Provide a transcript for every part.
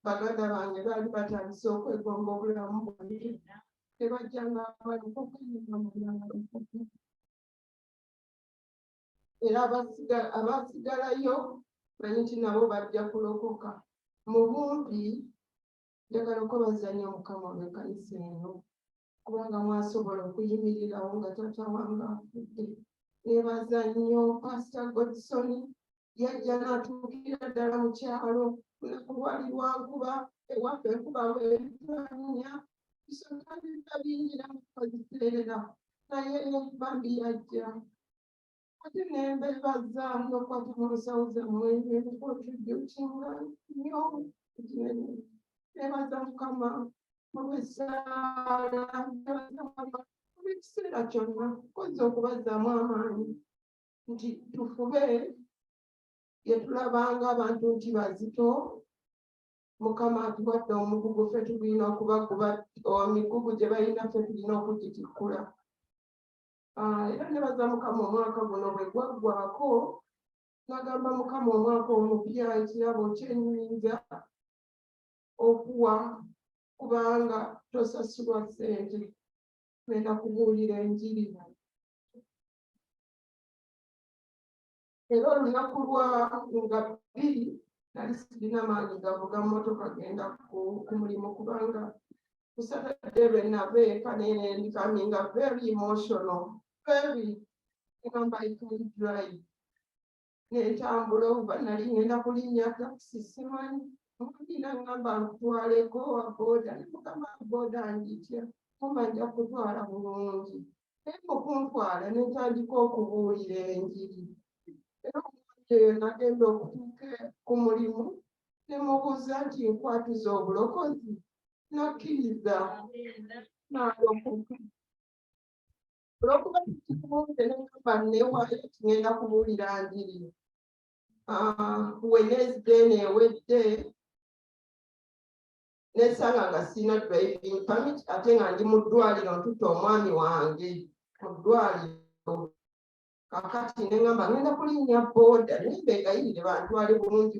baganda bange baali batandise okwegomba obulamu bwange tebajjanga balikokanaamulangaokuku era abaasigalayo manyi nti nabo bajja kulokoka mu bumpi njagala okubazanyo mukama olwekanisa eno kubanga mwasobola okuyimirirawo nga tata wange afudde nebaza nnyo pasita godson yajja natuukira ddala mu kyalo lunaku lwali lwankuba ewaffe enkuba weanya bisonabibba bingi namukoziterera naye bambi yajja Kati nembebaza nokwati mulusauze mwene contributinga nyo kinene nebaza mukama olwesaala nebaza mukama olwekiseera kyonna koza okubazaamu amaanyi nti tufube yetulabanga abantu nti bazito mukama atuwadde omugugu fe tulina okubakuba migugu gye balina fe tulina okugitikkula Ah, era nebaza mukama omwaka guno bwe gwaggwako nagamba mukama omwaka omupya ekirabo kyenyinza okuwa kubanga tosasulwa sente genda kubuulira enjiri era olunaku lwa nga bbiri nali sirina maanyi gavuga mmotoka genda ku mulimu kubanga ku saturday lwe nava eka nene ndikaminga very emotional very ngamba i can drive nentambula oba nali ngenda kulinnya takisi simanyi omulina ngamba nkutwaleko wa boda ne mukama boda nditya mumanja kutwala bulungi Naye okuntwala ne ntandika okubuulira enjiri era omuntu eyo nagenda okutuuka ku mulimu ne mubuuza nti nkwatuza obulokozi n'akkiriza n'alokoka olwokuba kikibunze nengamba newayo tugenda kubuulira njiri ah, wenezde neewedde nesanga nga sirina driving permit ate nga ndi mu ddwaliro ntutte omwami wange mu ddwaliro kakati ne ngamba ngenda kulinnya booda naye mbegayirire bantwale bulungi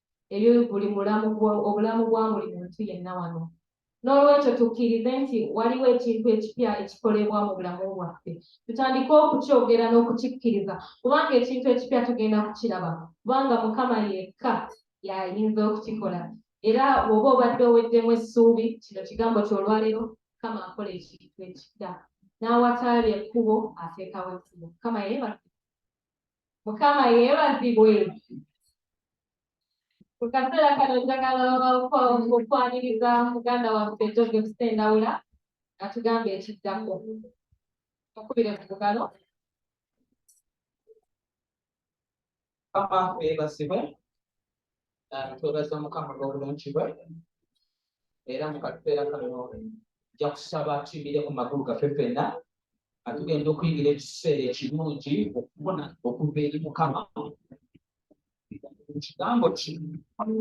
eri buli mulamu obulamu bwa buli muntu yenna wano n'olwekyo tukkirize nti waliwo ekintu ekipya ekikolebwa mu bulamu bwaffe tutandike okukyogera n'okukikkiriza kubanga ekintu ekipya tugenda kukiraba kubanga mukama yekka yayinza okukikola era woba obadde oweddemu essuubi kino kigambo kyolwaleero mukama akola ekintu ekipya n'awataali ekkubo ateekawo ekkubo mukama yeebaa mukama yeebazibwe mu kaseera kano njagala okwaniriza muganda waffe joseph sendawula atugamba ekiddako okubire ku bugalo papa yeebazibwe ah, twebaza mukama olw'obulungi bwe era mu kaseera kano ja kusaba tuyimire ku magulu gaffe fenna atugenda okuyingira ekiseera ekirungi okufuna okuva eri mukama ekigambo ki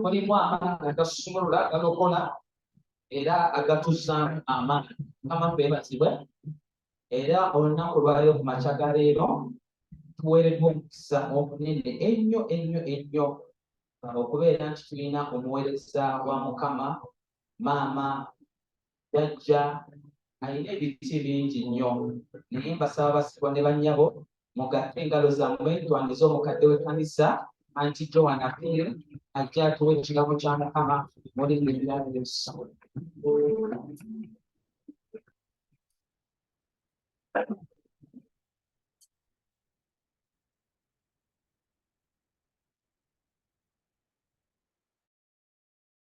mulimu amaanyi agasumulula agalokola era agatuzaamu amaanyi mukama febazibwe era olunaku lwaleero ku makya ga leero tuweereddwa omukisa omunene ennyo ennyo ennyo okubeera nti tulina omuweereza wa mukama maama jajja alina ebiti bingi nnyo naye mbasaba basibwa ne bannyabo mugatte engalo zammwe tuwandize omukadde w'ekkanisa anti joan apil ajja atuwa ekirabo kya mukama mulimu ebirabo ebisabula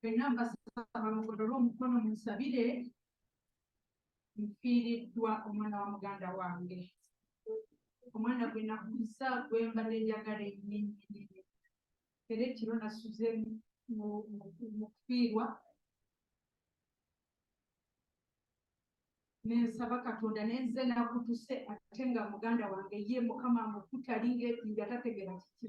fenna mbasaba mugolole omukono munsabire nfiiriddwa omwana wa muganda wange omwana gwe nakuza gwe mbadde njagala ennyinnyini era ekiro nasuze mu kufiirwa nensaba katonda nenze nakutuse ate nga muganda wange ye mukama mukutali nga tategera kiki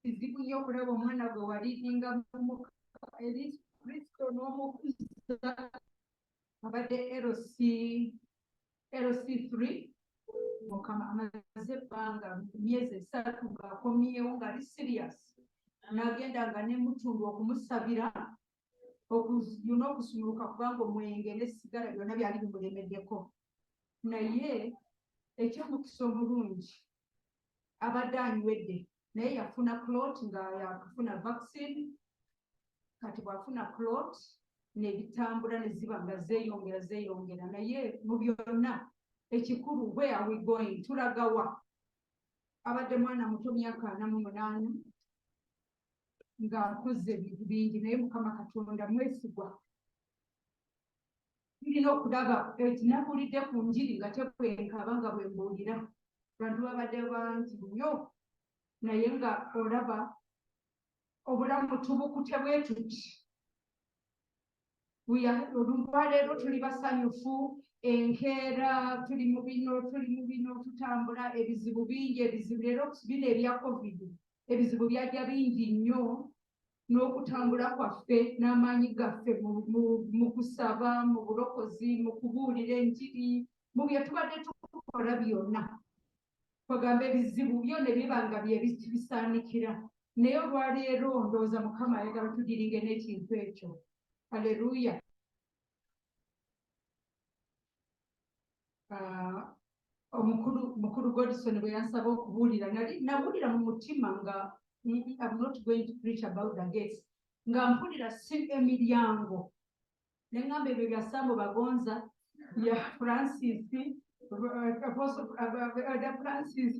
kizibu nnyo okulaba omwana gwe walidinga mumuka eri kristo n'omukuza abadde lc lc 3 mukama amaze ebbanga myezi esatu ng'akomyewo ng'ali sirias n'agenda nga nemutundu okumusabira okuyuna okusumuluka kubanga omwenge n'essigala byonna byali bimulemeddeko naye ekyomukisa omulungi abadde anywedde naye yafuna clot nga yakufuna vaccine kati bwafuna clot nebitambula neziba nga zeyongera zeyongera naye mu byonna ekikulu where are we going tulagawa abadde mwana muto myaka ana mu munaana ng'akoze ebintu bingi naye mukama katonda mwesigwa tulina okulaba eti nakulidde ku njiri nga tekwenkaba nga bwe mbuulira bantu babadde bangi nnyo naye nga olaba obulamu tubukute bwetuti olwaleero tuli basanyufu enkeera tuli mu bino tuli mu bino tutambula ebizibu bingi ebizibu leero bino ebya covid ebizibu byajja bingi nnyo n'okutambula kwaffe n'amaanyi gaffe mu kusaba mu bulokozi mu kubuulira enjiri mu bye tubadde tukola byonna bagamba ebizibu byona ebiba nga byebisaanikira naye olwaleero ndowooza mukama ayagala tudiringe n'ekintu ekyo aleluya ah, omukulu mukulu godison bwe yansaba okubuulira nali nabuulira mu mutima nga am not going to preach about the gates nga mpulira si emiryango nengamba ebyo bya sambo bagonza bya francis da francis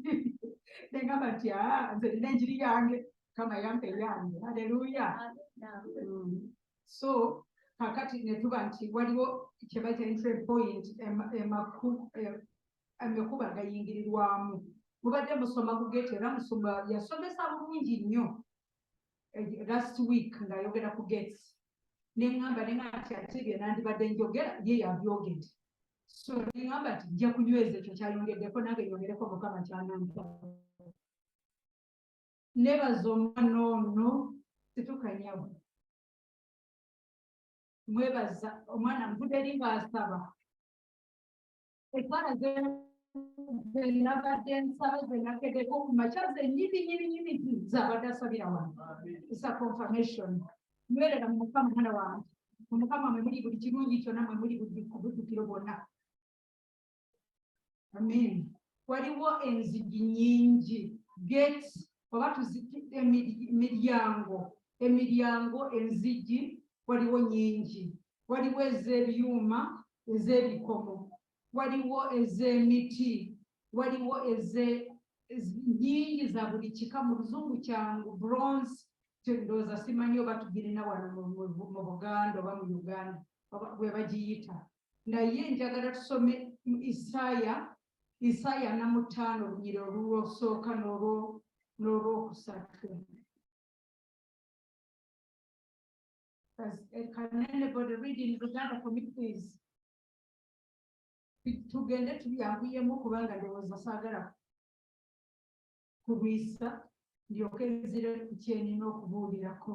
nengamba nti aa nze nina enjiri yange kama yampa eyange haleluya mm. so kakati netuba nti waliwo kyebaita entry point amakuba agayingirirwamu mubadde musoma ku gate era musoma yasomesa bulungi nnyo eh, last week ng'ayogera ku gates ne ŋŋamba ne ŋŋamba nti ate bye nandibadde njogera ye yabyogedde so ne ŋŋamba nti nja kunyweza ekyo kyayongeddeko nange yongereko mukama kyanampa nebaza omwana ono situkanyawo mwebaza omwana nvude eri ng'asaba ebbala zenabadde nsaba zenakedeko ku makya zenyini nyini nyini zabadde asabira wano isa confirmation nywerera mu mukama mwana wange mu mukama mwe muli buli kirungi kyonna mwe muli buli kubudukiro bwonna amen waliwo enzigi nyingi gates oba tuzikidde emiryango emiryango enzigi waliwo nyingi waliwo ez'ebyuma ez'ebikomo waliwo ez'emiti waliwo eze nyingi za buli kika mu luzungu kyangu bronze ndowooza simanyi oba tugirina wano mu buganda oba mu uganda bwe bagiyita naye njagala tusome mu isaaya isaaya na mutaano olunyira olulwosooka n'olwokusatu eh, Can anybody read in Uganda for me, please? tugende tubyambuyemu kubanga ndowooza saagala kulwisa ndyoke nzire ku kyenina okubuulirako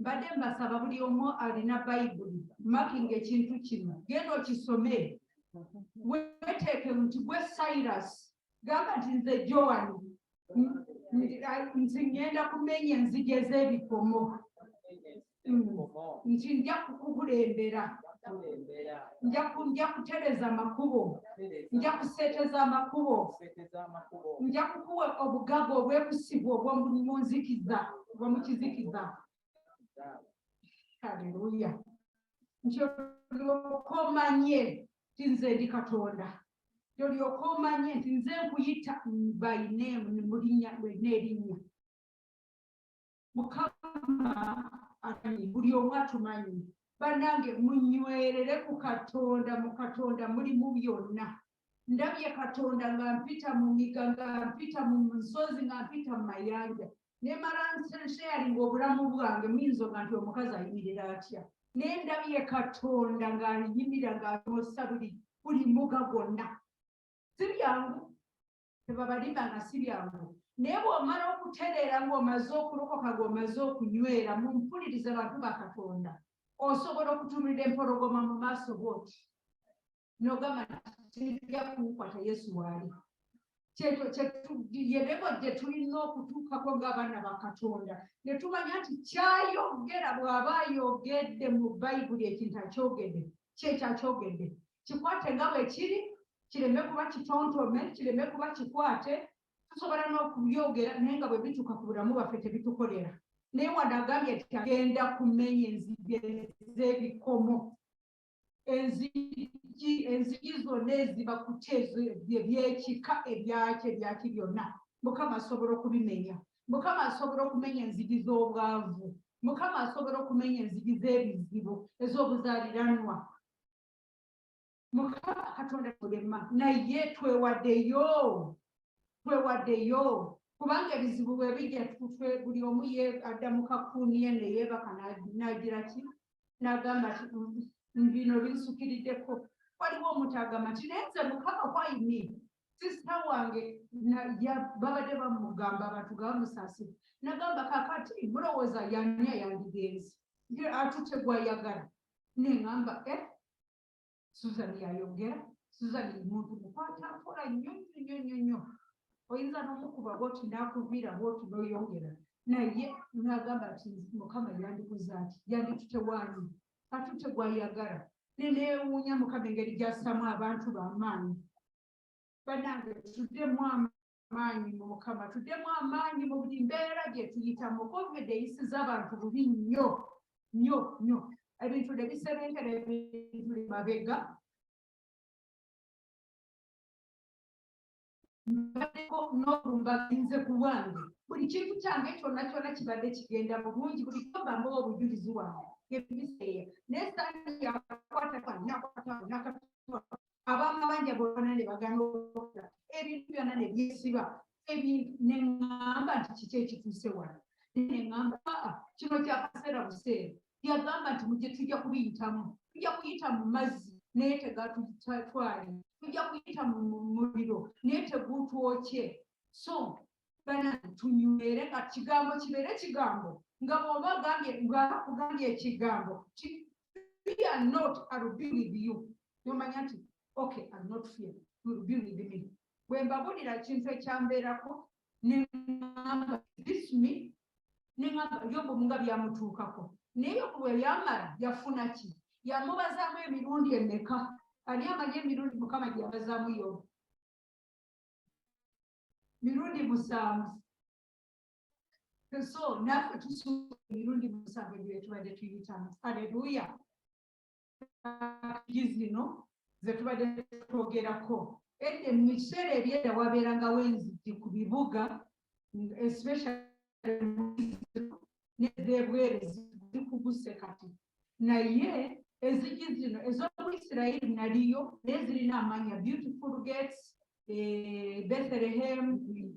mbadde mbasaba buli omu alina bayibuli makinga ekintu kino genda okisome weteeke nti gwe cyrus gamba nti nze joan nti ngenda kumenya enzigi ez'ebikomo nti nja kukukulembera nja kutereza amakubo nja kuseeteza amakubo nja kukuwa obugaga obwekusibwa obwomunzikiza bwomukizikiza haleluya nti olyoka omanye ti nze ndi katonda olyoka omanye nti nze nkuyita bainemu mulinya lwena erinnya mukama amanyi buli omu atumanyi banange munywerere ku katonda mu katonda mulimu byonna ndabye katonda nga mpita mu miga nga mpita mu nsozi nga mpita mu mayanja nemala nsharinga obulamu bwange muyinza oga nti omukazi ayimirira atya naye ndabye katonda ng'ayimira ng'amusa buli buli muga gwonna si byangu tebabalimba nga si byangu naye bw'omala okutereera ng'omaze okulokoka ng'omaze okunywera mu mpuliriza bantu ba katonda osobola okutunulira empologoma mu maaso bwoti nogamba tija kunkwata yesu waali yebebo gye tulina okutuukako ng'abaana ba katonda ne tumanya nti kyayogera bw'aba ayogedde mu bayibuli ekintu akyogedde kyekyo akyogedde kikwate nga bwe kiri kireme kuba kitontome kireme kuba kikwate tusobola n'okubyogera naye nga bwe bituuka ku bulamu bwaffe tebitukolera naye wadde agambye nti agenda kumenya enzige z'ebikomo enzigi enzigi zonna eziba kutya ebyekika ebyaki ebyaki byonna mukama asobola okubimenya mukama asobola okumenya enzigi z'obwavu mukama asobola okumenya enzigi z'ebizibu ez'obuzaliranwa mukama katonda mulema naye twewadeyo twewadeyo kubanga ebizibu bwebijja tutwe buli omu ye adda mu kakuuniye neyeebaka nagira ki nagamba ti mm, mm, bino binsukiriddeko waliwo omuntu agamba nti naye nze mukama kwaimi sisita wange babadde bamugamba abantu gabamusaasira nagamba kakati mulowooza yani ayandigenzi atutegwayagala neŋamba e eh, susan yayogera susan muntu mukwata mpola nnyo nnyo nnyo nnyo nnyo oyinza nomukuba bwoti nakuviira bwoti noyongera naye nagamba nti mukama yandikuza ati yanditute wani atute gwayagala nenewuunya mukama engeri gyasamu abantu bamaanyi banange tudemu amaanyi amaanyi mu mukama tuddemu amaanyi mu buli mbeera gye tuyitamu covid eyisiza abantu bubi nnyo nnyo nnyo ebintu ne biserenkera ebintu li mabega mbaddeko n'obulumba ginze ku bwange buli kintu kyange kyonna kyonna kibadde kigenda bulungi buli kyobamu obujulizi wange ebiseera naye saani yakwata nakatwa abamabanja bona ne bagana okukola ebintu byonna ne byesiba ebintu ne ŋŋamba nti kiki ekituuse wano ne ŋŋamba aa kino kya kaseera buseera yagamba nti mugye tujja kubiyitamu tujja kuyita mu mazzi naye tegatutwali tujja kuyita mu muliro naye tegutwokye so bana tunywere nga kigambo kibeere kigambo nga bwoba agambye ngakugambye ekigambo fear not I will be with you nomanya nti okay I will not fear you will be with me bwe mbabulira ekintu ekyambeerako nengamba this me nengamba yobu nga byamutuukako naye yobu bwe yamala yafuna ki yamubazaamu emirundi emeka ani amanyi emirundi mukama gyeyabazaamu yobu mirundi musanvu so naffe tusuuka emirundi musanvu egyo etubadde tuyitamu aleluya gi zino ze tubadde twogerako edde mu kiseera ebyeda wabeerangawo enzigi ku bibuga especialnezebwere zikuguse kati naye ezigi zino ez'omu isirairi naliyo naye zirina amanya beautiful gates eh, bethlehemu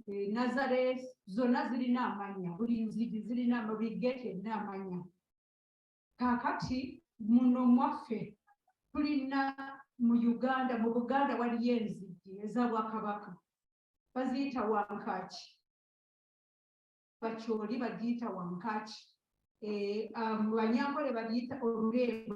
eh, nazareth zonna zirina amanya buli nzigi zirina buli geeti erina amanya kakati muno mwaffe tulina mu uganda mu buganda waliyo enzigi eza bwakabaka baziyita wankaki bakyoli bagiyita wankaki eh, ah, mu banyankole bagiyita olulembo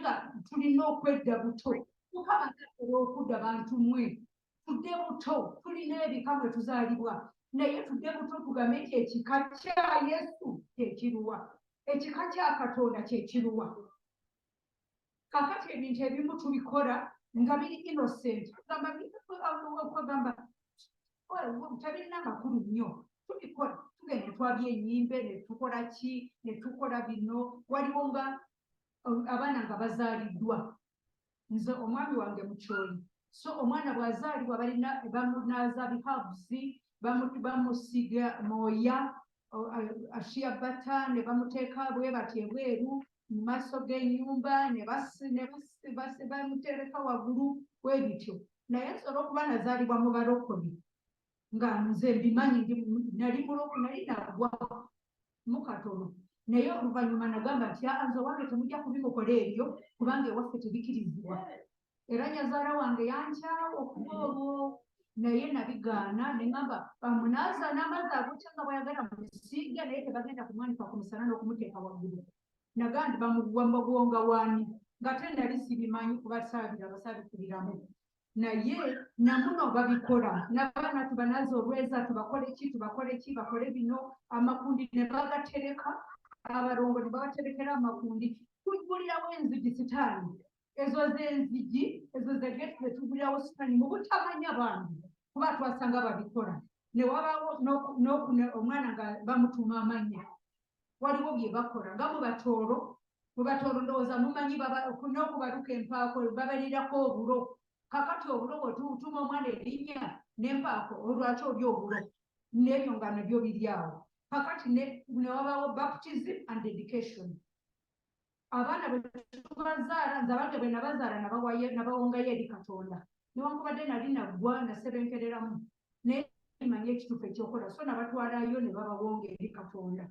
nga tulina okwedda buto mukama tatera okudda bantu mwe tudde buto tulina ebika mwe tuzaalibwa naye tudde buto tugambe nti ekika kya yesu kyekiruwa ekika kya katonda kyekiruwa kakati ebintu ebimu tubikola nga biri innocent gamba kwegamba tabirina amakulu nnyo tubikola tugenda twabya enyimbe netukola ki netukola bino waliwo nga abaana nga bazaaliddwa nze omwami wange mukyoli so omwana bwazaalibwa balina bamunaaza bihabusi bamusiga mooya ashiya bata ne bamuteeka bwe bati ebweru mu maaso g'enyumba nebamutereka waggulu bwe bityo naye nsobola okuba nazaalibwa mu balokole nga nze mbimanyi nali muloko nali nagwa mukatono naye oluvannyuma nagamba nti anze owange temujja kubikokola ebyo kubanga ewaffe tebikirizibwa era nyazaala wange yankyawo okuba olwo naye nabigaana neŋamba bamunaaza n'amazzi agokya nga bwayagala musiige naye tebagenda kumwanika ku musana n'okumuteeka waggulu nagaa nti bamuwa mugonga waani ngate nali sibimanyi kuba saabira basaabikubiramu naye namuno babikola nabaana tubanaza olweza tubakole ki tubakole ki bakole bino amakundi ne bagatereka abalongo ne babaterekera amakundi tugulirawo enzigi sitaani ezo zenzigi ezo zegeti zetugulirawo sitaani mu butamanya bambi kuba twasanga babikola newabaawo omwana nga bamutuma amanya waliwo bye bakola nga mu batooro mu batooro ndowooza mumanyi n'okubaluka empaako babalirako obulo kakati obulo bwetutuma omwana erinnya n'empaako olwaki oli obulo n'ebyo nga nabyo biri awo kakati newabawo baptism and dedication abaana bwe tubazaala nze abange bwe nabazaala nabawongayo eri katonda newankubadde nali naggwa nasebenkereramu naye manya ekituufu ekyokola so nabatwalayo ne babawonga eri katonda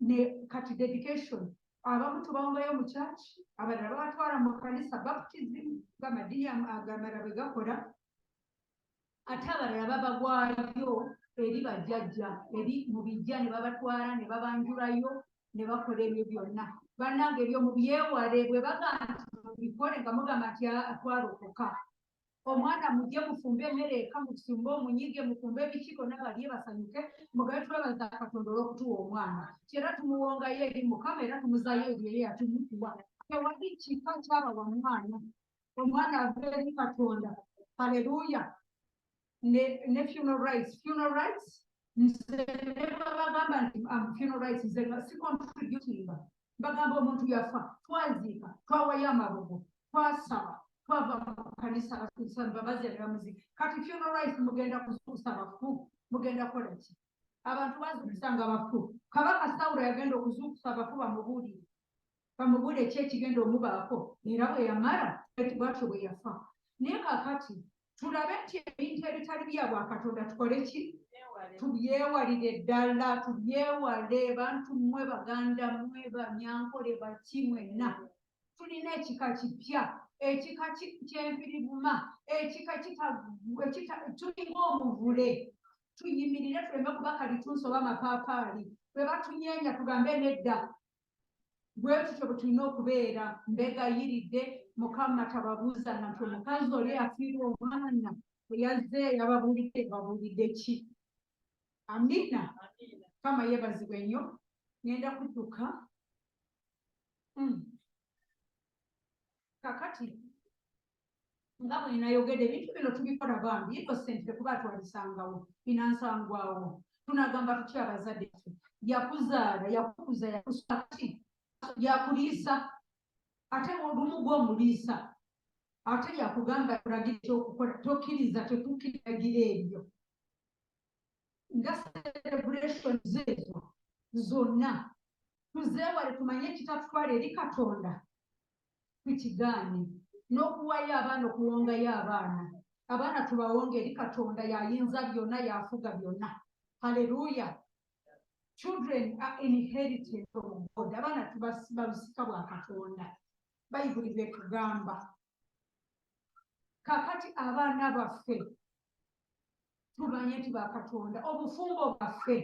ne kati dedication abamu tubawongayo mu kyaki abalala babatwala mu kanisa baptism gamadiya agamala bwe gakola ate abalala babagwayo eri bajjajja eri mu bijja ne babatwala ne babanjulayo ne bakola ebyo byonna bannange ebyo mubyewale bwe bagamba nti mubikole nga mugamba nti atwalokoka omwana mujje mufumbe emmere eka musumbe omunyige mufumbe ebikiiko nabalye basanyuke mugabe twebaza katonda olwokutuwa omwana kyera tumuwongayo eri mukama era tumuzayo ebyo ye yatumutuwa tewali kika kyabawa mwana omwana ave eri katonda haleluya ne, ne funeral rights funeral rights nze nebabagamba nti am funeral rights nze nga si contributinga bagamba omuntu yafa twaziika twawayo amabugo twasaba twava mu kanisa babazi abamuzi kati funeral rights mugenda kuzuusa bafu mugenda kukola ki abantu bazuukusa nga bafu kabaka sawulo yagenda okuzuukusa abafu bamubuulire bamubule ki ekigenda omubaako era bwe yamala eti bwatyo bwe yafa naye kakati tulabe nti ebintu ebitali bya bwakatonda tukole ki tubyewalire ddala tubyewale bantu mmwe baganda mmwe banyankole baki mwenna tulina ekika kipya ekika kyenfiribuma ekika tulinga omuvule tuyimirire tuleme kuba kalitunsi oba mapaapaali bwe batunyeenya tugambe nedda bwetutyo bwetulina okubeera mbegayiridde mukama tababuuza nga nti omukazi oli afiirwa omwana eyazze yababuulidde babuulidde ki amina kama yebazibwe nnyo ngenda kudduka hmm. kakati nga bwe nayogedde ebintu bino tubikola bambi ino sente tekuba twalisangawo binansangwawo tunagamba tutya abazadde fe yakuzaala yakukuza yakusaki yakuliisa ate olumu gwomuliisa ate yakugamba kulagira ekyokukola tokiriza tetukiragira ebyo nga celebration zeezo zonna tuzeewale tumanye ekitatutwala eri katonda tukigaane n'okuwayo abaana okuwongayo abaana abaana tubawonga eri katonda yayinza byonna yafuga byonna haleluya children are inherited from god abaana tubasika bwa katonda bayibuli byetugamba kakati abaana baffe tumanye nti bakatonda obufumbo bwaffe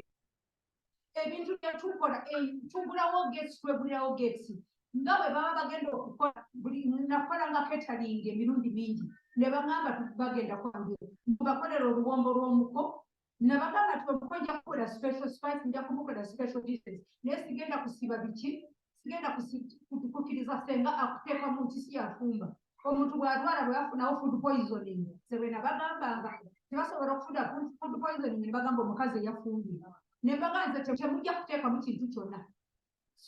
ebintu byetukola eh, tugulawo gesi twegulirawo gesi nga bwe baba bagenda okukola buli nakola nga ketalinga emirundi mingi ne bagamba bagenda kwangire mubakolera oluwombo lw'omuko ne bagamba ti omuko nja kukola special spice nja kumukola special dishes naye sigenda kusiba biki sigenda kukiriza senga akuteeka mu kisi yafumba omuntu bwalwala bwebafunawo food poisoning sebwena bagambanga tebasobola okufuna food poisoning nebagamba omukazi eyafumbye nembaga nze temujja kuteekamu kintu kyonna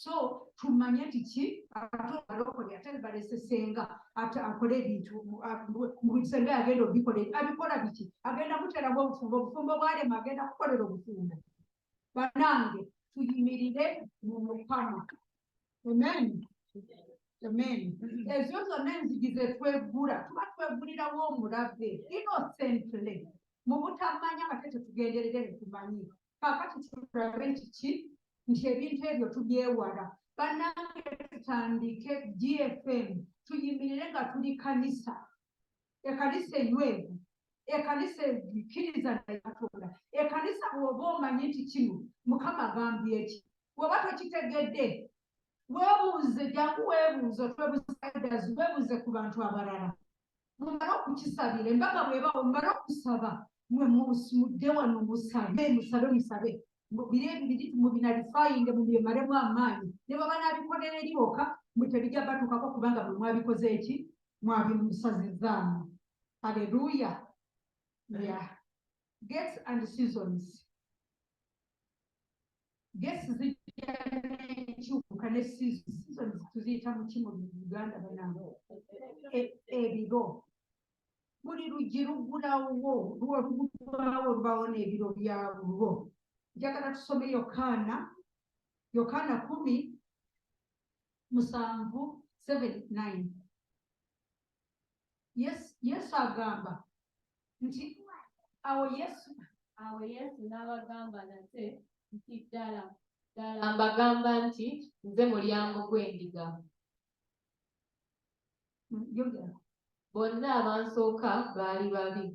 so tumanye nti ki atbalokole ate balesesenga ate akole ebintu senga yagenda obikola abikola biki agenda kuteramu obufumbo obufumbo bwalema agenda kukolera obufumbo banange tuyimirire mu mukama amen amen ezo zonna enzigi zetweggula tuba tweggulirawo omulabbe innocently mu butamanya ate tetugenderere netumanyi kakati tulabe kiki nti ebintu ebyo tubyewala banange tutandike gfm tuyimirire nga tuli kanisa ekanisa enywevu ekanisa ekkiriza naye katonda ekanisa bwoba omanyi nti kino mukama agambye eki bwoba tokitegedde webuuze jangu webuuze otwebuzidas webuuze ku bantu abalala mumale okukisabira embaga bwebawo mumale okusaba mwe mudde wano musabe musabe musabe mbu biri ebibiri mubinalifayinge mubimaremu amaanyi ne bwe banaabikolera eri bokka mbu tebijja batuukako kubanga bwe mwabikoze eki mwabimusazizaamu aleluya ya gets and seasons gesi zijja nekyuka ne seasons tuziyita muki mu uganda banaabo e, ebiro buli luggi luggulawo lwolugugwawo lubaawo n'ebiro byalwo njagala tusome yokaana yokaana kumi musanvu 79 yesu agamba nti awo yesu awo yesu n'abagamba nate nti ddala ddala mbagamba nti nze mulyango gw'endiga bonna abansooka baali babi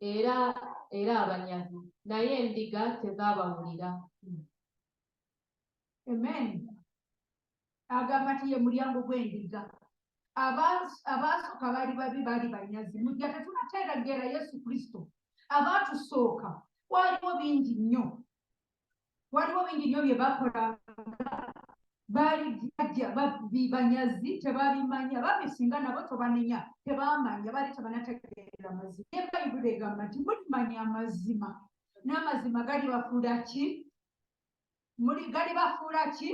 era era abanyazi naye endiga tezaabawulira amen agamba nti ye mulyango gw'endiga abaasooka baali babi baali banyazi mujja tetunateeregeera yesu kristo abaatusooka waliwo bingi nnyo waliwo bingi nnyo bye bakola baali jajja babbi banyazi tebabimanya babbi singa nabo tobanenya tebamanya baali tebanategeera mazima naye bayibuli egamba nti mulimanya amazima n'amazima gali bafuula ki muli gali bafuula ki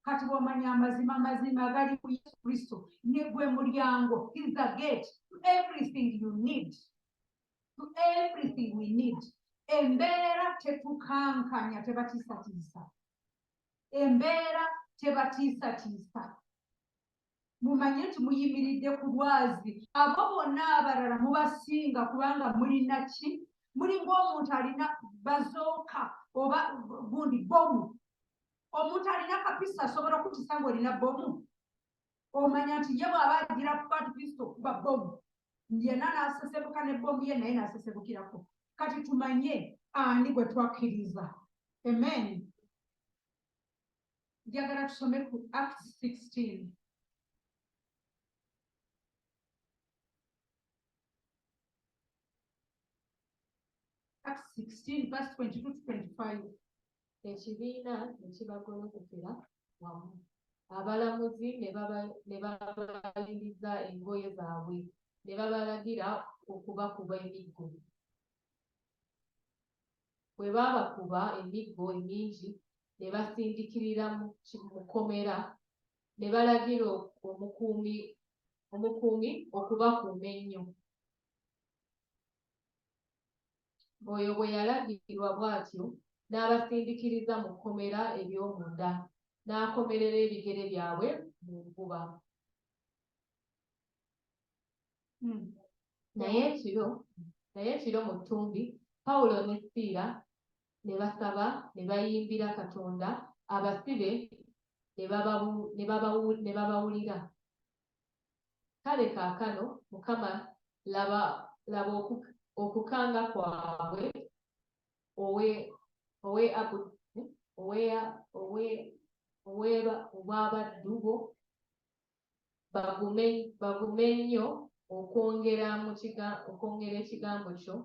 kati bwomanya amazima amazima gali ku yesu kristo ne gwe mulyango is the gate to everything you need to everything we need embeera tetukankanya tebatiisatiisa embeera tebatiisatiisa mumanye nti muyimiridde ku lwazi abo bonna abalala mubasinga kubanga mulina ki mulinga omuntu alina bazooka oba gundi bomu omuntu alina kapisa asobola okutisa ngaolina bomu omanya nti ye bw'aba agira ku kwatu kristo okuba bbomu yena n'asesebuka ne bbomu ye naye n'asesebukirako kati tumanye ani gwe twakkiriza amen njagala tusome ku act 16 act 16 verse 22 to 25 ekibiina ne kibagolokokera wamu abalamuzi ne babayingiza engoye zaabwe ne babalagira okubakuba emiggo bwe baabakuba emiggo emingi ne basindikirira mu kkomera ne balagira omukuumi okubakuuma ennyo Oyo bwe yalagirwa bw'atyo, n'abasindikiriza mu kkomera ery'omunda, n'akomerera ebigere byabwe mu nvuba. Hmm. Naye ekiro, naye ekiro mu ttumbi, Pawulo ne Siira ne basaba ne bayimbira Katonda, abasibe ne babawulira. Kale kaakano, Mukama, laba, laba oku, okukanga kwabwe, owe, owe abu, eh, oweya, owe, oweba, obw'abaddu bo, bagume, bagume nnyo okwongera mu kiga, okwongera ekigambo kyo,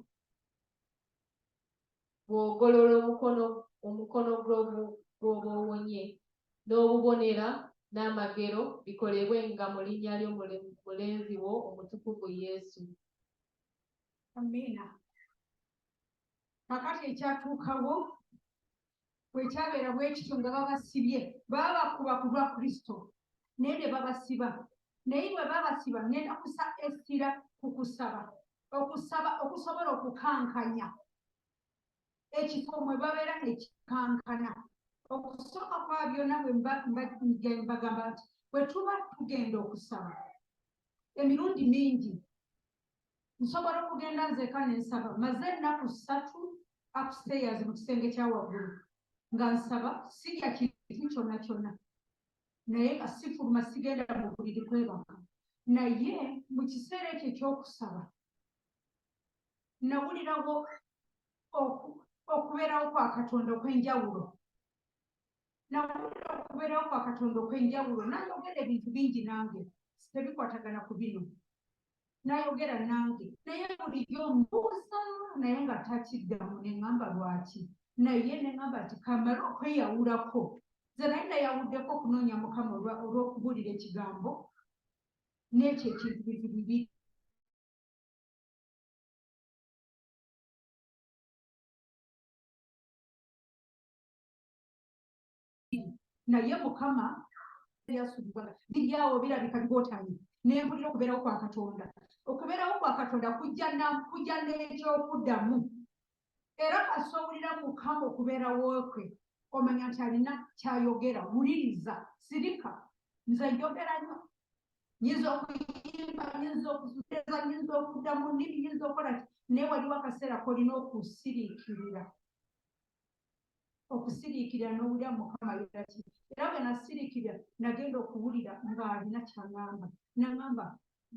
bw'ogolola omukono omukono gw'oba owonye, n'obubonera n'amagero bikolebwe nga mu linnya lyo mulenzi wo omutukuvu Yesu. Amiina. Kakati ekyatuukawo bwe kyabeera bwe kityo nga babasibye babakuba ku lwa kristo naye ne babasiba naye bwe babasiba ngenda kusa essira ku kusaba okusaba okusobola okukankanya ekifo mwe babeera ekikankana okusooka kwa byonna bwembagamba nti bwe tuba tugenda okusaba emirundi mingi nsobola okugenda nzeeka ne nsaba maze ennaku ssatu upstairs mu kisenge kya waggulu nga nsaba sirya kintu kyonna kyonna naye nga sifuluma sigenda mu buliri kwebaka naye mu kiseera ekyo ekyokusaba nawulirawo okubeerawo kwa katonda okw'enjawulo nawulira okubeerawo kwa katonda okw'enjawulo nayogera ebintu bingi nange tebikwatagana ku bino nayogera nange naye bulijjo mbuuza naye nga takiddamu neŋamba lwaki naye neŋamba nti kamale okweyawulako ze naye nayawuddeko okunoonya mukama olw'okubuulira ekigambo n'ekyo ekintu bintu bibiri naye mukama yasubwa biryawo birabika bigotamye nempulira okubeerawo kwa katonda okubeerawo kwa katonda kujja n'ekyokuddamu era kasowulira mukama okubeerawo kwe omanya nti alina kyayogera wuliriza sirika nze njogera nyo nyinza okuyimba nyinza okuzueza nyinza okudda mu nnimi nyinza okukola naye waliwo akaseera kolina okusiriikirira okusiriikirira n'owulira mukama ayogera ki era bwe nasiriikirira nagenda okuwulira ng'alina kyangamba nangamba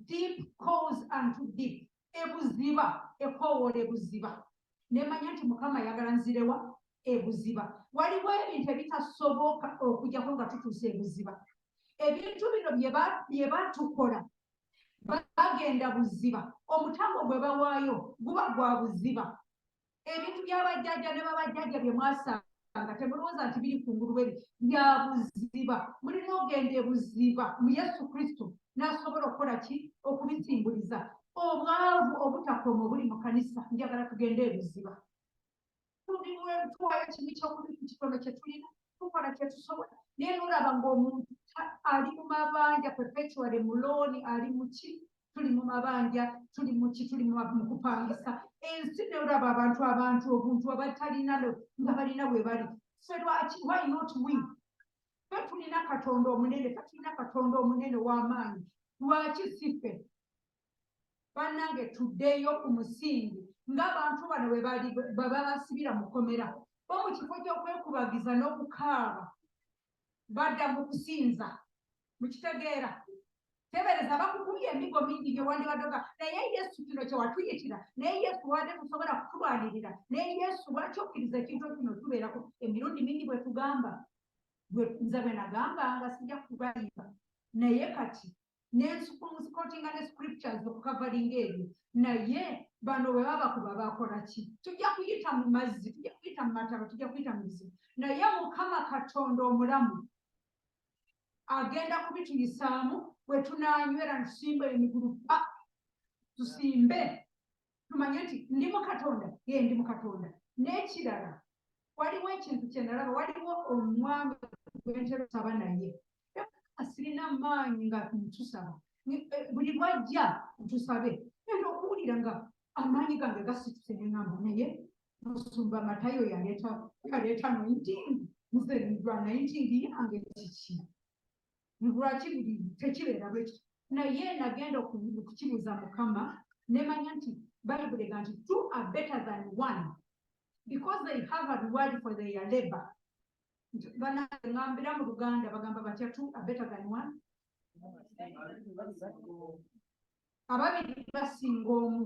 deep calls unto deep ebuziba ekoowoola ebuziba nemanya nti mukama ayagala nzirewa ebuziba waliwo ebintu ebitasoboka okujjako nga tutuusa ebuziba ebintu bino bye batukola bagenda buziba omutango gwe bawaayo guba gwa buziba ebintu bya bajjajja ne babajjajja bye mwasanga temulowooza nti biri ku ngulu bweri bya buziba mulina ogenda ebuziba mu yesu kristo n'asobola okukola ki okubisimbuliza obwavu obutakoma obuli mu kanisa njagala tugende ebuziba tuwayo kimu kyokuli ku kitono kye tulina tukola kye tusobola naye nolaba ng'omuntu ali mu mabanja perpetuale mulooni ali muki tuli mu mabanja tuli muki tuli mukupangisa ensi ne olaba abantu abantu obuntu abatalina nga balina we bali fe lwaki why not we fe tulina katonda omunene fe tulina katonda omunene w'amaanyi lwaki si fe bannange tuddeyo ku musingi ng'abantu bano bwebaba basibira mukomera bo mu kifo ky'okwekubagiza n'okukaaba badda mu kusinza mukitegeera tebereza bakukubye emigo mingi gyewandibadoga naye yesu kino kyewatuyitira naye yesu wade tusobola kutulwanirira naye yesu lwaki okkiriza ekintu kino tubeerako emirundi mingi bwetugamba nze bwenagamba nga sijja kubayimba naye kati nensikotinga ne scriptures okukavalinga ebyo naye bano bwe baba kuba bakola ki tujja kuyita mu mazzi tujja kuyita mu mataba tujja kuyita mu bizibu naye mukama katonda omulamu agenda kubituyisaamu bwe tunanywera nsimba emigulu pa tusimbe tumanye nti ndi mu katonda ye ndi mu katonda n'ekirala waliwo ekintu kye nalaba waliwo omwami gwentera osaba naye asirina maanyi nga ntusaba eh, buli lwajja ntusabe enda okuwulira nga amaanyi gange gasituse neŋamba naye musumba matayo yaleeta yaleeta nointing nze nidwa nainting yange kiki lwaki buli tekibeera bwe kiti naye nagenda okukibuuza mukama nemanya nti bayibuli ega nti two are better than one because they have a reward for their labor banangambira mu luganda bagamba batya two are better than one ababiri basinga omu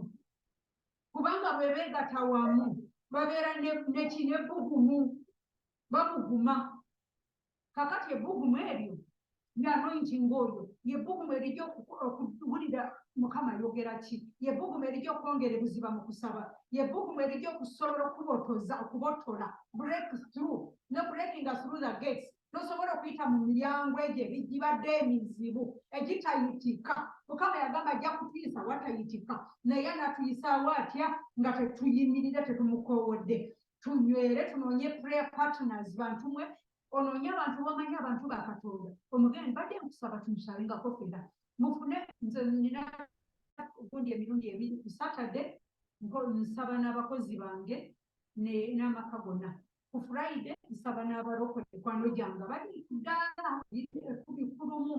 kubanga bwebegata wamu babeera nekinebugumu babuguma kakati ebbugumu eryo ne anointing oyo yebbugumu erija okuwulira mukama ayogera ki yebbugumu erija okwongera ebuziba mu kusaba yebbugumu erija okusobola okubotoza okubotola break through ne breakinga through the gates nosobola okuyita mu miryango egyo ebigibadde emizibu egitayitika mukama yagamba ajja kutuyisa watayitika naye anatuyisaawo atya nga tetuyimirire tetumukoowodde tunywere tunoonye prayer partners bantu mwe onoonye abantu bamanyi abantu ba katonda omugeni badde nkusaba tumusabengako fena mufune nze nina gundi emirundi ebiri ku saturday nsaba n'abakozi bange n'amaka gonna ku friday nsaba n'abalokole ekwano gyanga bali ddaala ekumi kulumu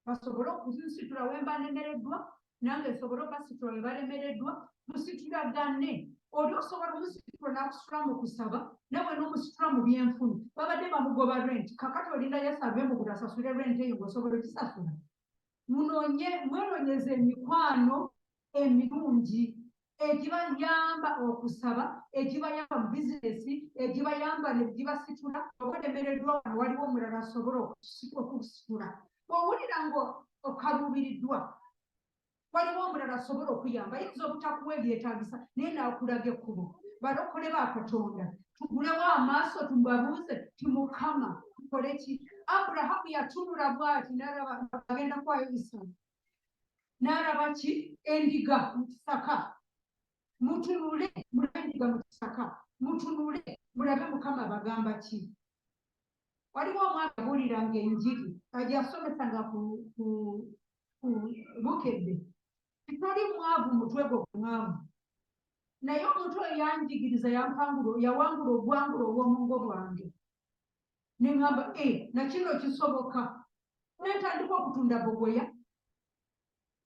basobole okuzinsitula wemba nemereddwa nange nsobole obasitula webalemereddwa musitulagane oli osobola omusitula nakusitula mu kusaba nawe nomusitula mu byenfuna babadde bamugoba rent kakati olinda yasave mu buli asasule rent eyo ngaosobola okisasula munonye mwenonyeza emikwano emirungi egibayamba okusaba egibayamba mu bizinesi egibayamba negibasitula oba olemereddwa wano waliwo omulala asobola okusitula owulira nga okaluubiriddwa waliwo omulala asobola okuyamba yinza obutakuwa ebyetagisa naye naakulaga ekkubo balokole ba katonda tugulewo amaaso tubabuuze timukama tukoleki aburahamu yatunula bwati nalaba agenda kwayo isaamu n'alaba ki endiga mu kisaka mutunule mulabe endiga mu kisaka mutunule mulabe mukama abagamba ki waliwo omwana abuulira nga enjiri ajasomesa nga ku bukedde titali mwavu mutwe gwo kumwavu naye omuntu oyo yanjigiriza yampangula yawangula obwangula obwomungo bwange ne ŋŋamba e eh, na kino kisoboka ne ntandika okutunda bogoya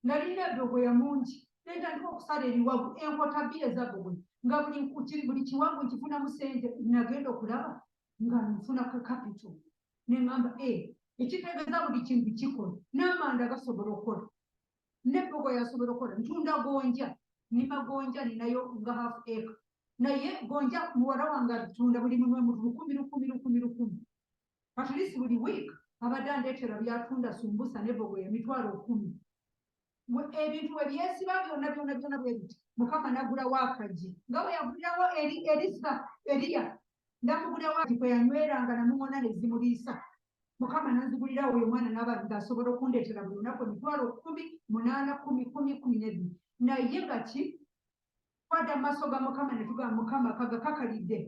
nalina edogoya mungi ne ntandika okusala ebiwagu enkota bbiri eza bogoya nga buli kukiri buli kiwagu nkifunamu sente nagenda okulaba nga nfuna ka kapito ne ŋŋamba e eh, ekitegeeza buli kintu kikola n'amanda gasobola okukola ne boko yasobola okola ntunda gonja nima gonja ninayo nga half acre naye gonja muwala wange atunda buli mumwe mutu lukumi lukumi lukumi lukumi at least buli week abadde andetera byatunda sumbusa ne boko ya mitwalo kumi ebintu we byesiba byona byona byona bwebiti mukama nagula wakaji nga bwe yagulirawo eri erisa eriya ndamugulirawo ati kwe yanyweranga namumona nezimuliisa mukama nanzigulira oyo omwana naba nga asobola okundeetera buli lunaku emitwalo kumi munaana kumi kumi kumi nebiri naye nga ki twada maaso ga mukama netuga mukama kaga kakalidde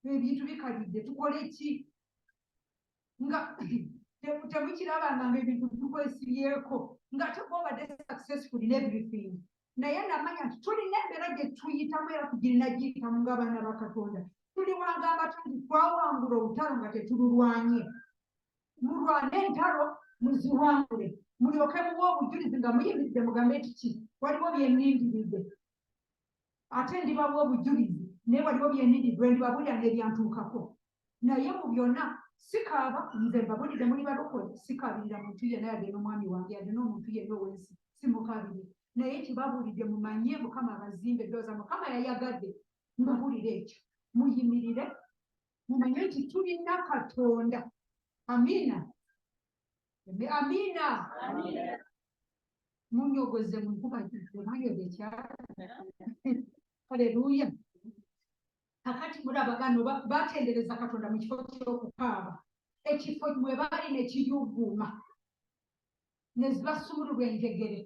ebintu bikalidde tukole ki nga temukirabanga nga ebintu tukwesibyeko nga tekuobadde successful in everything naye namanya nti tulina embeera gye tuyitamu era tugirina giyitamu ng'abaana ba katonda tuli wagamba tya nti twawangula olutalo nga tetululwanye mulwane entalo muziwangule mulyoke muba obujulizi nga muyimiridde mugambe nti ki waliwo byenindiridde ate ndibawa obujulizi naye waliwo byenindiridde ndibabuulira n'ebyantuukako naye mu byonna sikaaba nze mbabulidde muli balokole sikaabirira muntu yenna yadde n'omwami wange yadde n'omuntu yenna owensi simukaabire naye kibabulidde mumanye mukama abazimba eddooza mukama yayagadde mbabulire ekyo muyimirire mumanye nti tulina katonda amiina amiina munyogoze munkuba ekyalo aleluya kakati mulaba bano batendereza katonda mu kifo kyokukaaba ekifo mwe baali ne kiyuguuma ne zibasumululwa enjegere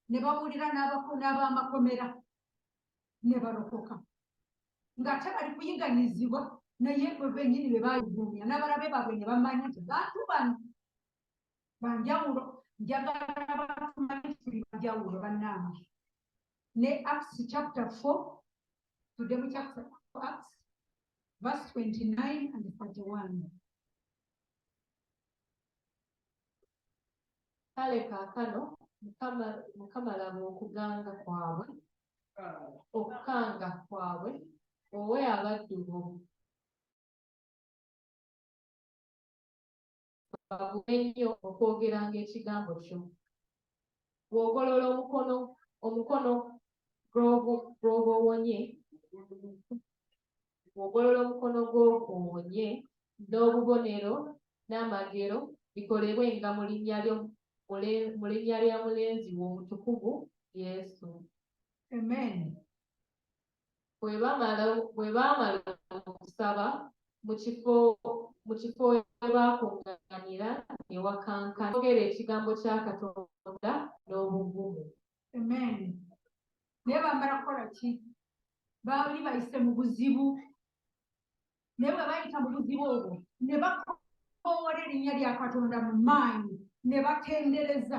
ne bawulira n'abamakomera ne balokoka ng'ate bali kuyiganyizibwa naye bwe benyini be bayuguumya n'abalabe baabwe ne bamanya nti bantu bano banjawulo njagala batumanye tuli banjawulo bannange ne Acts chapter 4 tudde mu chapter Acts verse 29 and 31 kale kaakano mukama laba okuganga kwabwe okukanga kwabwe owe abaddu bo bagume nnyo okwogeranga ekigambo kyo bw'ogolola omukono omukono gw'oba owonye bw'ogolola omukono gw'oba owonye n'obubonero n'amagero bikolebwe nga mu linnya lyo mu linnya lya mulenzi wo omutukuvu yesu amen bwe bamala bwe baamala okusaba mu kifo mu kifo we baakuŋŋaanira ne wakankana boogera ekigambo kya Katonda n'obuvumu. Amen. Naye bamala kukola ki? Baali bayise mu buzibu. naye bwe bayita mu buzibu obwo ne bakoowola erinnya lya katonda mu maanyi ne batendereza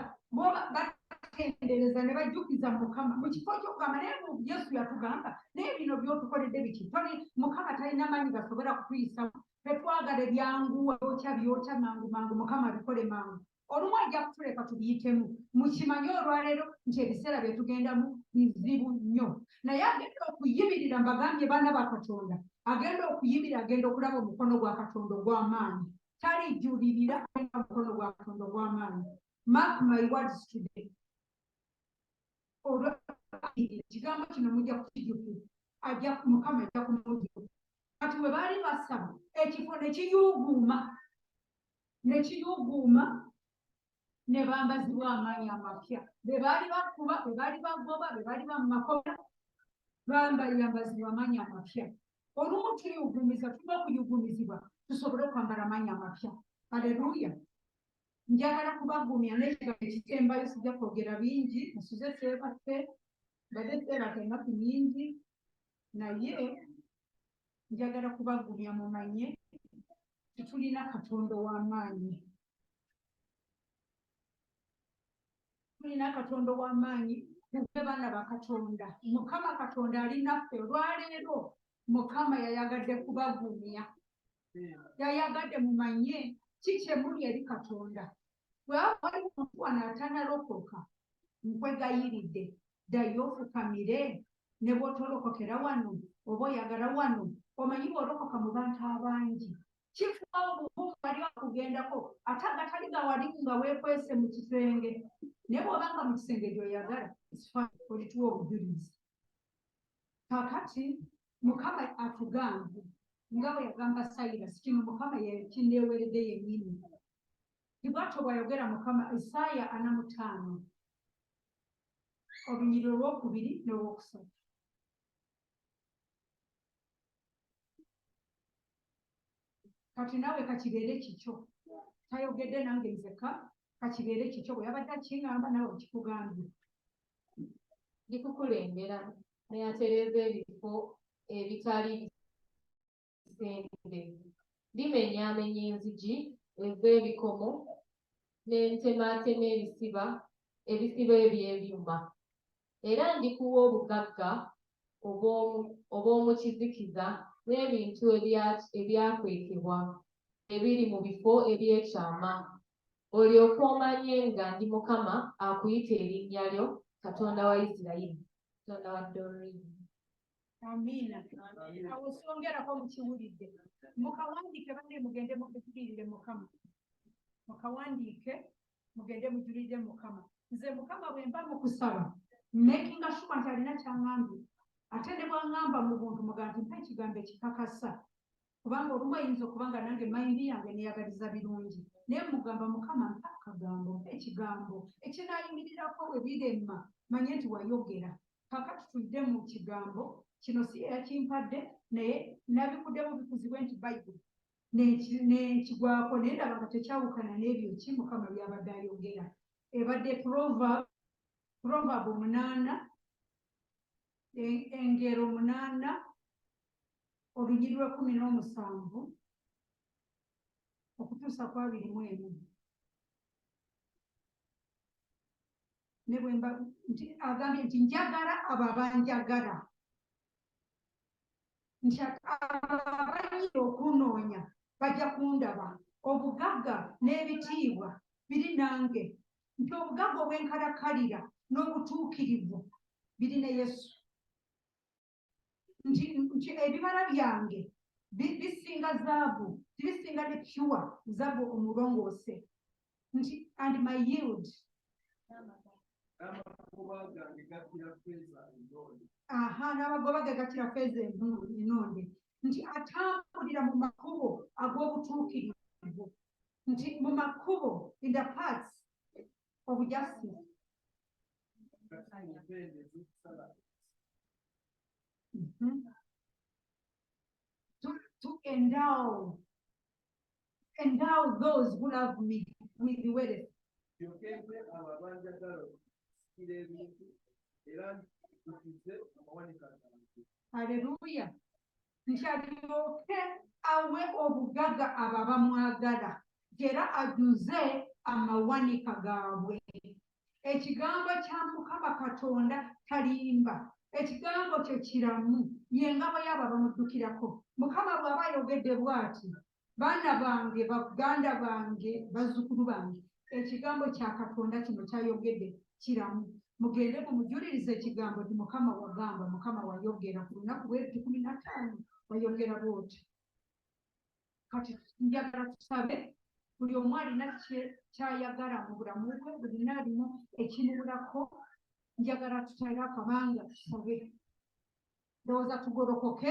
batendereza ne bajjukiza mukama mu kifo kyokugamba naye yesu yatugamba naye bino byotukoledde biki toli mukama talina maanyi gasobola kutuyisamu tetwagala ebyanguwa byokya byokya mangu mangu mukama bikole mangu olumu ajja kutuleka tubiyitemu mukimanye olwaleero nti ebiseera bye tugendamu bizibu nnyo naye agenda okuyimirira mbagambye baana ba katonda agenda okuyimirira agenda okulaba omukono gwa katonda ogw'amaanyi talijulirira alina omukono gwa katonda ogw'amaanyi mark my words today ekigambo kino mujja kukijukira ajja mukama ajja kumujukira kati we baali basaba ekifo ne kiyuuguuma ne kiyuuguuma ne bambazibwa amaanyi amapya be baali bakuba be baali bagoba be baali ba mu makola bambayambazibwa amaanyi amapya olumu tuyugumiza tulina okuyugumizibwa tusobole okwambala amaanyi amapya aleluya njagala kubagumya nekigambo ekisembayo sijja kwogera bingi nsuze seebaffe mbadde seebaka enaku nyingi naye njagala kubagumya mumanye tetulina katonda ow'amaanyi tulina katonda ow'amaanyi tuve baana bakatonda mukama katonda alinaffe olwaleero mukama yayagadde kubagumya yayagadde mumanye ki kyemuli eri katonda bwewaba waliwo omuntu wano atanalokoka nkwegayiridde ddayo ofukamire ne bw'otolokokera wano oba oyagala wano omanyi bw'olokoka mu bantu abangi kifuba obuvumu bali okugendako ate agatali gawalimu nga weekwese mu kisenge naye bw'oba nga mu kisenge gy'oyagala olituwa obujulizi kakati mukama atugambe nga bwe yagamba sayirasi kino mukama yakindeeweredde yennyini tibwatyo bwayogera mukama isaaya anamutaano olunyiri olwokubiri n'olwokusatu kati naawe kakibeere kikyo tayogedde nange nzeka kakibeere kikyo bwe yabadde akingamba naawe okikugambye ndikukulembera neyatereeza ebifo ebitali kisenge limenyaamenya enzigi ez'ebikomo ne ntemaatema ebisiba ebisiba eby'ebyuma era ndikuwa obugagga obw'omu kizikiza n'ebintu ebyakwekebwa ebiri mu bifo eby'ekyama olyoke omanye nga ndi mukama akuyita erinnya lyo katonda wa isirayiri katonda wa dorini amiina awo songerako mukiwulidde mukawandiike bane mugende mujulirire mukama mukawandiike mugende mujulirire mukama nze mukama bwe mba mukusaba makinga shuwa nti alina kyangambye ate ne bwangamba mu buntu muga nti mpa ekigambo ekikakasa kubanga olumu ayinza okuba nga nange mayindi yange neyagaliza birungi naye mugamba mukama mpa akagambo mpa ekigambo ekinayimirirako bwe birema manye nti wayogera kaka tutudde mu kigambo kino si eyakimpadde naye nabikuddemu bikuzibwe nti bayibuli nekigwako naye ndaba nga tekyawukana n'ebyo ki mukama byabadde ayogera ebadde proverb omunaana e, engero munaana olugiri lw'ekkumi n'omusanvu okutuusa ku abiri mu emu ne bwe mba nti agambye nti njagala abo abanjagala nti abayinza okunoonya bajja kundaba obugagga n'ebitiibwa biri nange nti obugagga obw'enkalakalira n'obutuukirivu biri ne yesu nti nti ebibala byange bi- bisinga zaabu nti bisinga ne pure zaabu omulongoose nti and my yield n'amakubo gange gakkira ffeeza endoole aha n'abagoba gagattira feeza envundu enonde nti atambulira mu makubo ag'obutuukirivu nti mu makubo in the parts obujaasi mhm. to, to endow endow those who love me with the word yokembe abo abanjagala okusikira ebintu era ntukize amawanika gange haleluya nti alyoke awe obugaga abo abamwagala era ajuze amawanika gaabwe ekigambo kya mukama katonda talimba ekigambo kye kiramu ye ngabo yaabo abamuddukirako mukama bw'aba ayogedde bw'ati baana bange baganda bange bazzukulu bange ekigambo kya katonda kino kyayogedde kiramu mugende mumujuliriza ekigambo nti mukama wagamba mukama wayogera ku lunaku lwebiti kumi nataano wayogera bwoti kati njagala tusabe buli omu alina kyayagala mu bulamu bwe bulina alimu ekimubulako njagala tutale akabanga tusabe ndowooza tugolokoke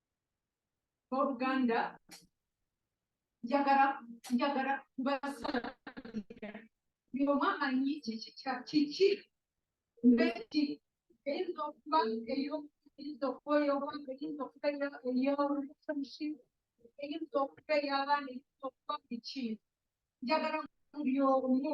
oluganda njagala njagala kubasala ngoma anyi kiki mbeki eyinza okuba eyinza okuba eyobwange eyinza okuba eyolukumusi eyinza okuba eyabaana eyinza okuba biki njagala buli omu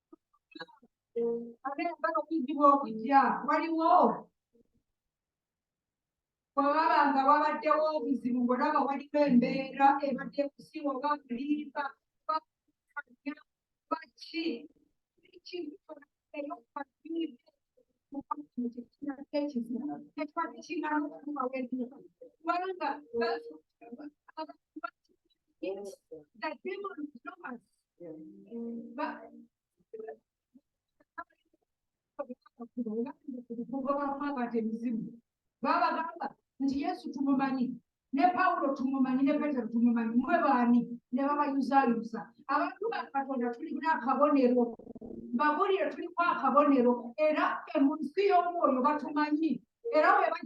agenda okujjibwa okujja waliwo bwewaba nga wabaddewo obuzibu ngolaba waliwo embeera ebadde kusiwa oba kulimba baki kubanga babagamba nti yesu tumumanyi ne pawulo tumumanyi ne petero tumumanyi mwe baani ne babayuzayuza abantu ba katonda tulina akabonero babulire tuliku akabonero era emunsi y'omwoyo batumanyi era webaa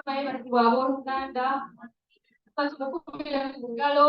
Abayizi b'abooluganda, kati mukuumire mu ngalo.